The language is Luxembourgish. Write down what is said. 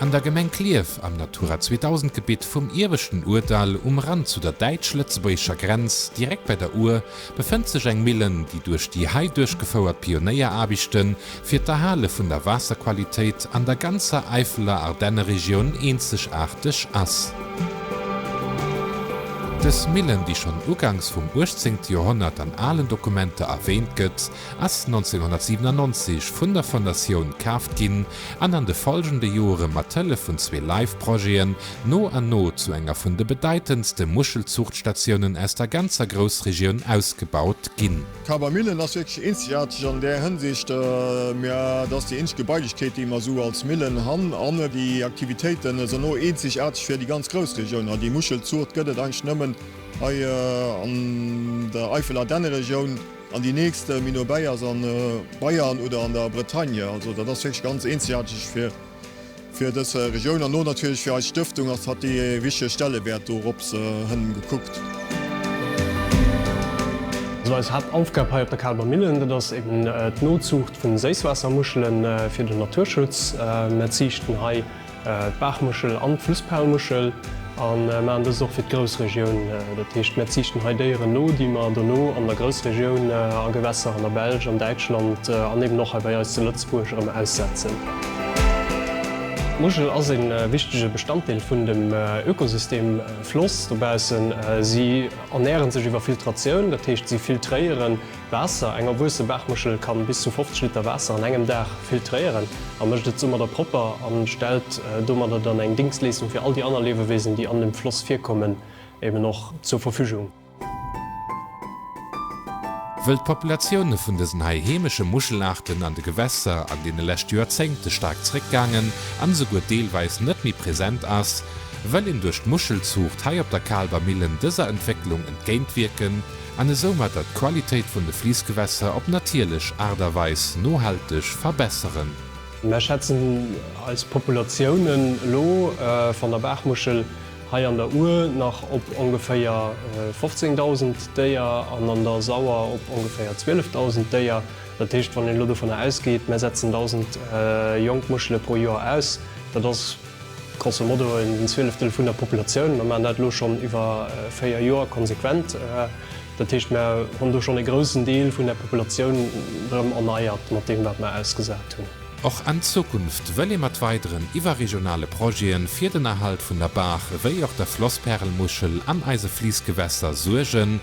An der Gemeng Klierf am Natura 2000 Gebitt vum Ieweschten Ourdall, um Rand zu der däitsch-lëtzebuergescher Grenz, direkt bei der Our, befënnt sech eng Millen, déi duerch déi hei duerchgefouert Pionéieraarbechten fir d'Erhale vun der Waasserqualitéit an der ganzer Äifeler Ardenneregioun eenzegaarteg ass. Dës Millen, déi schonn ugangs vum 18. Joerhonnert an alen Dokumenter erwäänt gëtt, ass 1997 vun der Fondatioun kaaft ginn an an de follgende Jore mat Hëllef vun zwee Live-Projeten no an no zu enger vun de bedeitendste Muschelzuuchtstatiounen aus der ganzer Groussregioun ausgebaut ginn. D'Kabermillen ass wierklech eenzegaarteg an där Hënsicht, mä et ass déi eenzeg Gebailechkeet, déi mer esou als Millen han, an déi Aktivitéiten ass erno eenzegaarteg fir déi ganz Groussregioun. Hei déi Muschelzuucht gëtt et eigentlech nëmmen hei an der Eifelardenneregioun. An déi nächst Minobäi ass a Bayern oder an der Bretagne. Also dat ass wierklech ganz eenzegaarteg fir dës Regioun an och natierlech fir eis Stëftung ass, hat déi ee wichtege Stellewäert dorops hënn gekuckt. Also eis Haaptaufgab hei op der Kaalber Millen, dat ass eben d'Nozuucht vu Séisswaassermuschele fir den Naturschutz. Mer ziichten hei. d'Baachmuschel an d'Flussperlmuschel a maachen dëst och fir d'Groussregioun. Dat heescht, mir ziichten hei Déieren no, déi mer dono an der Groussregioun, a Gewässer an der Belsch, an Däitschland an eben och hei bei eis zu Lëtzebuerg erëm aussetzen. D'Muschel ass e wichtege Bestanddeel vun dem Ökosystem Floss dobaussen. Si ernäre sech iwwer Filtratioun, dat heescht si filtréieren Waasser, Eng erwuesse Baachmuschel kann bis zu 50 Liter Waasser an engem Dag filtréieren a mécht et soumadder propper an stellt domadder dann eng Dingschtleeschtung fir all déi anner Liewewesen déi an dem Floss virkommen eben och zur Verfügung. Wëll d'Populatioune vun dësen hei heemesche Muschelaarten an de Gewässer an deene leschte Joerzéngte staark zréckgaangen an esouguer deelweis net méi present ass, wëll een duerch d'Muschelzuucht hei op der Kaalwer Millen dëser Entwécklung entgéintwierken an esoumatter d'Qualitéit vun de Fliissgewässer op natierlech Aart a Weis nohalteg verbesseren. Mär schätzen eis Populatiounen elo van der Baachmuschel hei an der Our nach op ongeféier 15.000 Déier an an der Sauer op ongeféier 12.000 Déier. Dat heescht, wann een elo dovunner ausgeet, mär setzen 1.000 jonk Muschele pro Joer aus, dat ass, Grosso modo en Zwieleftel vun der Populatioun. Mer maachen dat elo schonn iwwer véier Joer konsequent. Dat heescht, mer hunn do schonn e groussen Deel vun der Populatioun erëm erneiert mat deem, wat mer ausgesat hunn. Och an Zukunft wëll ee mat weideren iwwerregionale Projete fir den Erhalt vun der Baach ewéi och der Flosspärelmuschel an eise Fliissgewässer suergen.